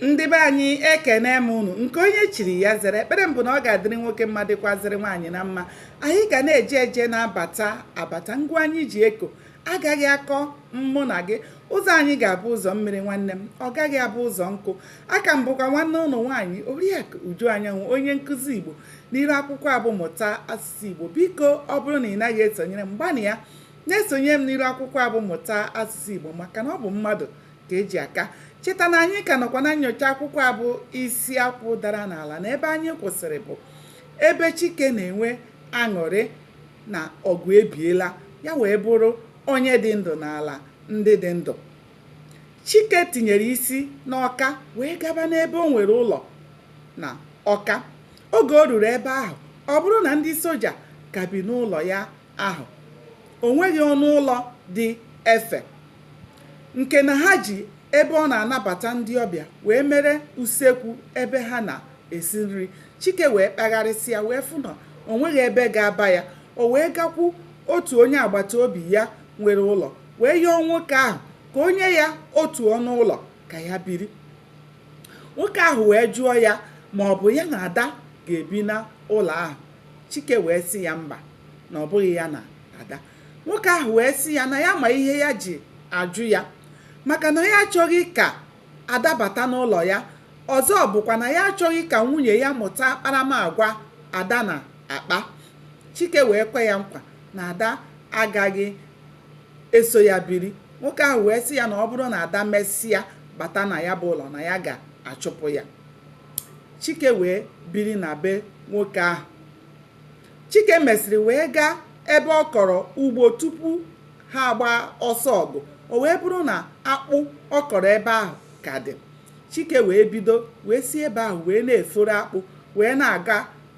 ndị be anyị ekene m unu nke onye chiri ya zere ekpere m bụ na ọ ga-adịrị nwoke mma dịkwazịrị nwaanyị na mma anyị ga na-eje eje na-abata abata ngwa anyị ji eko agaghị akọ mụ na gị ụzọ anyị ga-abụ ụzọ mmiri nwanne m ọ gaghị abụ ụzọ nkụ a ka m bụkwa nwanne unu nwaanyị oriakụ uju anyanwụ onye nkụzi igbo n'iru akwụkwọ a bụ mụta asụsụ igbo biko ọ bụrụ na ị naghị esonyere m gbanịa na-esonye m n'iru akwụkwọ a bụ mụta asụsụ igbo maka na ọ bụ mmadụ ka e ji aka cheta na anyị ka nọkwa na nyocha akwụkwọ a bụ isi akwụ dara n'ala na ebe anyị kwụsịrị bụ ebe chike na-enwe aṅụrị na ọgụ ebiela ya wee bụrụ onye dị ndụ n'ala ndị dị ndụ chike tinyere isi n'ọka wee gaba n'ebe o nwere ụlọ na ọka oge o ruru ebe ahụ ọ bụrụ na ndị soja ka bi n'ụlọ ya ahụ o nweghị ọnụ ụlọ dị efe nke na ha ji ebe ọ na-anabata ndị ọbịa wee mere usekwu ebe ha na-esi nri chike wee kpagharịsịa wee fụ na o nweghị ebe ga-aba ya o wee gakwu otu onye agbata obi ya nwere ụlọ wee yọọ nwoke ahụ ka o nye ya otu ọnụ ụlọ ka ya biri nwoke ahụ wee jụọ ya ma ọ bụ ya na ada ga-ebi na ụlọ ahụ chike wee sị ya mba na ọ bụghị ya na ada nwoke ahụ wee sị ya na ya ma ihe ya ji ajụ ya maka na ya achọghị ka ada bata n'ụlọ ya ọzọ bụkwa na ya achọghị ka nwunye ya mụta akparamagwa ada na-akpa chike wee kwe ya nkwa na ada agaghị eso ya biri nwoke ahụ wee sị ya na ọ bụrụ na ada mesịa bata na ya bụ ụlọ na ya ga-achụpụ ya Chike wee biri na be nwoke ahụ. Chike mesịrị wee gaa ebe ọ kọrọ ugbo tupu ha agbaa ọsọ ọgụ. O wee bụrụ na akpụ ọ kọrọ ebe ahụ ka dị. Chike wee bido wee si ebe ahụ wee na-eforo akpụ wee na-aga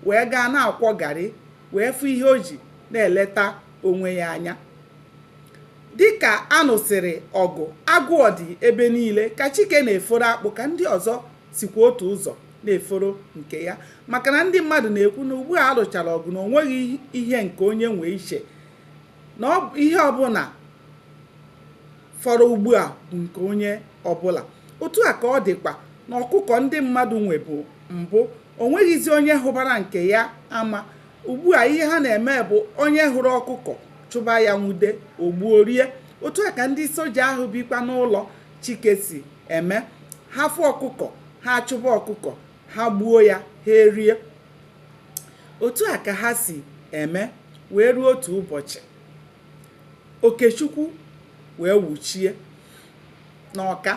wee gaa na-akwọ garị wee fụ ihe o ji na-eleta onwe ya anya. Dịka a nụsịrị ọgụ, agụụ dị ebe niile ka Chike na-eforo akpụ ka ndị ọzọ sikwa otu ụzọ na-eforo nke ya maka na ndị mmadụ na-ekwu na ugbu a a lụchara ọgụ na o nweghị ihe nke onye nwe iche na ihe ọbụla fọrọ ugbu a bụ nke onye ọbụla otu a ka ọ dịkwa na ọkụkọ ndị mmadụ nwebu mbụ o nweghịzi onye hụbara nke ya ama ugbu a ihe ha na-eme bụ onye hụrụ ọkụkọ chụba ya nwude o gbuo rie otu a ka ndị soja ahụ bikwa n'ụlọ Chike si eme. Ha fụ ọkụkọ, ha achụba ọkụkọ, ha gbuo ya, ha erie. Otu a ka ha si eme wee ruo otu ụbọchị. Okechukwu wee wuchie n'Ọka.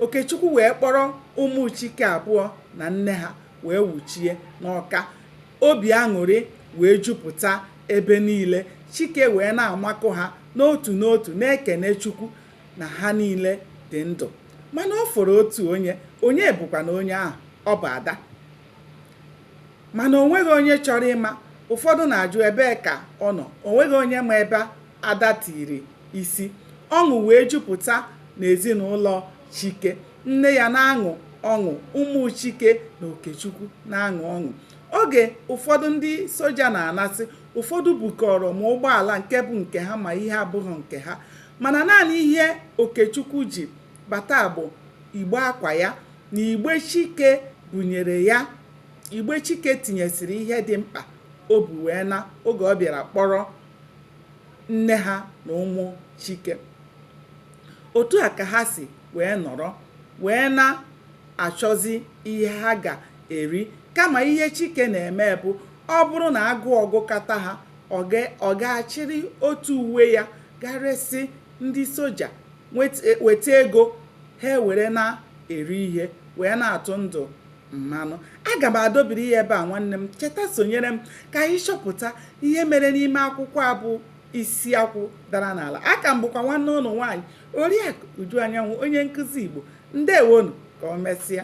Okechukwu wee kpọrọ ụmụ Chike abụọ na nne ha wee wuchie n'Ọka. Obi aṅụrị wee jupụta ebe niile. Chike wee na-amakụ ha n'otu n'otu na-ekene Chukwu na ha niile dị ndụ mana ọ fọrọ otu onye onye bụkwanụ onye ahụ ọ bụ ada mana onweghị onye chọrọ ịma ụfọdụ na-ajụ ebee ka ọ nọ onweghị onye ma ebe ada tiri isi ọṅụ wee jupụta n'ezinụlọ chike nne ya na-aṅụ ọṅụ ụmụ chike na okechukwu na-aṅụ ọṅụ oge ụfọdụ ndị soja na-anasị ụfọdụ bukọrọ ma ụgbọala nke bụ nke ha ma ihe abụghị nke ha mana naanị ihe Okechukwu ji bata bụ igbe akwa ya na igbe Chike bunyere ya igbe Chike tinyesịrị ihe dị mkpa o bu wee naa oge ọ bịara kpọrọ nne ha na ụmụ Chike otu a ka ha si wee nọrọ wee na-achọzi ihe ha ga-eri kama ihe Chike na-eme bụ ọ bụrụ na agụụ gụkata ha ọ ga-achịrị otu uwe ya gaa resị ndị soja weta ego ha ewere na-eri ihe wee na-atụ ndụ mmanụ aga m adọbiri ya ebe a nwanne m cheta sonyere m ka anyị chọpụta ihe mere n'ime akwụkwọ a bụ isi akwụ dara n'ala a ka m bụkwa nwanne unu nwaanyị oriakụ uju anyanwụ onye nkụzi igbo ndewonu ka ọ mesịa